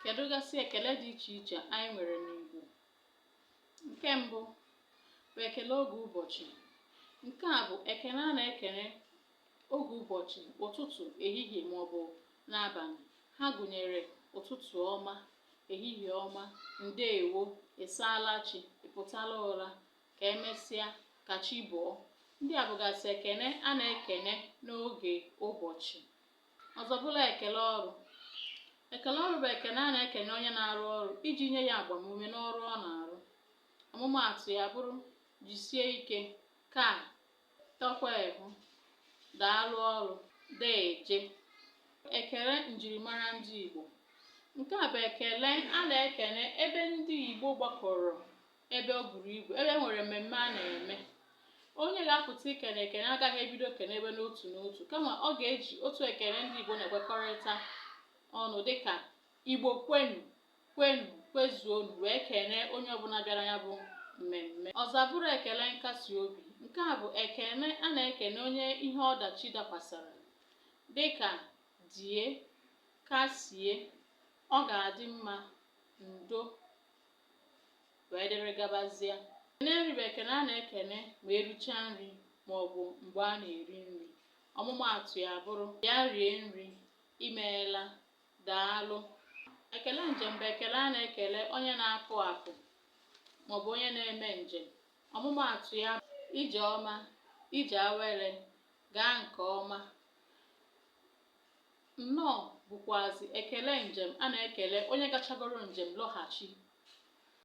Kedụgasị ekele dị iche iche anyị nwere n'Igbo? Nke mbụ bụ ekele oge ụbọchị. Nke a bụ ekele a na-ekele oge ụbọchị, ụtụtụ, ehihie maọbụ n'abalị. Ha gụnyere ụtụtụ ọma, ehihie ọma, ndeewo, ị saala chi, ị pụtala ụra, ka emesịa, ka chi bọọ. Ndị a bụgasị ekele a na-ekele n'oge ụbọchị. Ọzọ bụrụ ekele ọrụ. Ekele ọrụ bụ ekele a na-ekele onye na-arụ ọrụ iji nye ya agbamume n'ọrụ ọ na-arụ. Ọmụmaatụ ya bụrụ jisie ike, kaa, tọkwa ehu, daalụ ọrụ, deeje. Ekele njirimara ndị Igbo. Nke a bụ ekele a na-ekele ebe ndị Igbo gbakọrọ ebe o buru ibu ebe e nwere mmemme a na-eme onye ga-apụta ikene ekene agaghị ebido kenebe n'otu n'otu kama ọ ga-eji otu ekene ndị Igbo na-ekwekọrịta ọnụ dịka Igbo kwenu kwenu kwezuonu wee kene onye ọbụla bịara ya bụ mmemme ọzọ bụrụ ekele nkasi obi nke a bụ ekene a na-ekene onye ihe ọdachi dakwasara dịka die kasie ọ ga-adị mma ndo wee dịrị gabazie ekene nri bụ ekene a na-ekene ma erichaa nri ma ọ bụ mgbe a na-eri nri ọmụmaatụ ya bụrụ bịa rie nri imeela daalụ ekele njem bụ ekele a na-ekele onye na-apụ apụ maọbụ onye na-eme njem ọmụmaatụ ya ije ọma ije awere gaa nke ọma Nnọọ bụkwazị ekele njem a na-ekele onye gachagoro njem lọghachi.